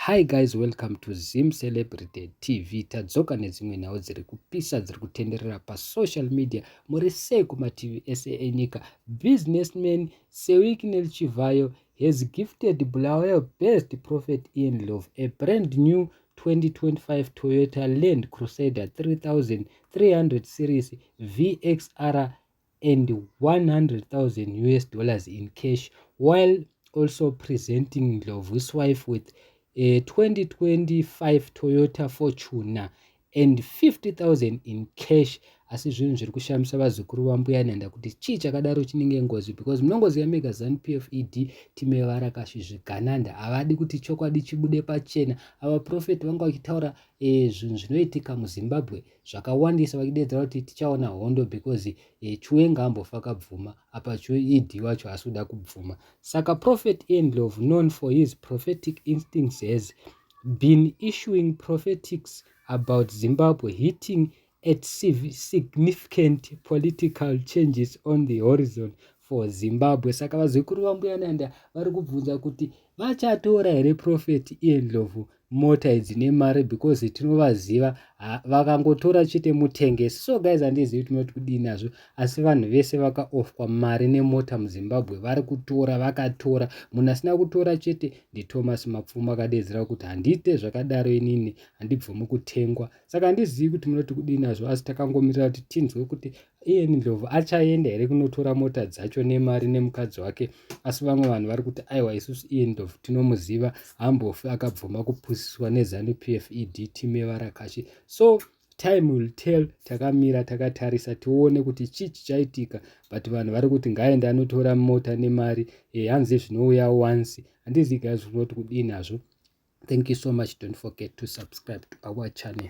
Hi guys welcome to Zim Celebrity TV tadzoka nedzimwe nhau dziri kupisa dziri kutenderera pasocial media muri sei kumativi ese enyika businessman Sewiknel Chivhayo has gifted Bulawayo best prophet in love a brand new 2025 Toyota Land Crusader 3300 series VXR and 100,000 us dollars in cash while also presenting Ndlovu's wife with a 2025 Toyota Fortuner and 50,000 in cash asi zvinhu zviri kushamisa vazukuru vambuya nhanda kuti chii chakadaro chinenge ngozi because munongoziva mega zanu p f e d time varakashi zvigananda havadi kuti chokwadi chibude pachena ava profeti vanga vachitaura e, zvinhu zvinoitika muzimbabwe e, zvakawandisa vachideedzera kuti tichaona hondo because eh, chue ngaambofa kabvuma apa chue ed wacho asi kuda kubvuma saka prophet endlov known for his prophetic instincts has been issuing prophetics about zimbabwe hitting at significant political changes on the horizon for zimbabwe saka vazukuru vambuyananda vari kubvunza kuti vachatora here prophet iendlovu mota idzi nemari because tinovaziva vakangotora chete mutengesi so guys handizivi tinoti kudii nazvo asi vanhu vese vakaofwa mari nemota muzimbabwe vari kutora vakatora munhu asina kutora chete ndithomas mapfuma akadeedzera kuti handiite zvakadaro inini handibvumi kutengwa saka handizivi kuti munoti kudii nazvo asi takangomirira kuti tinzwe kuti iye ndlovu achaenda here kunotora mota dzacho nemari nemukadzi wake asi vamwe vanhu vari kuti aiwa isusu iye ndlovu tinomuziva hambofi akabvuma kupusiswa nezanu p f e d team yevarakashi so time will tell takamira takatarisa tione kuti chii chichaitika but vanhu vari kuti ngaende anotora mota nemari e hanzi zvinouya once handizi gai zvinoti kudini hazvo thank you so much don't forget to subscribe to our channel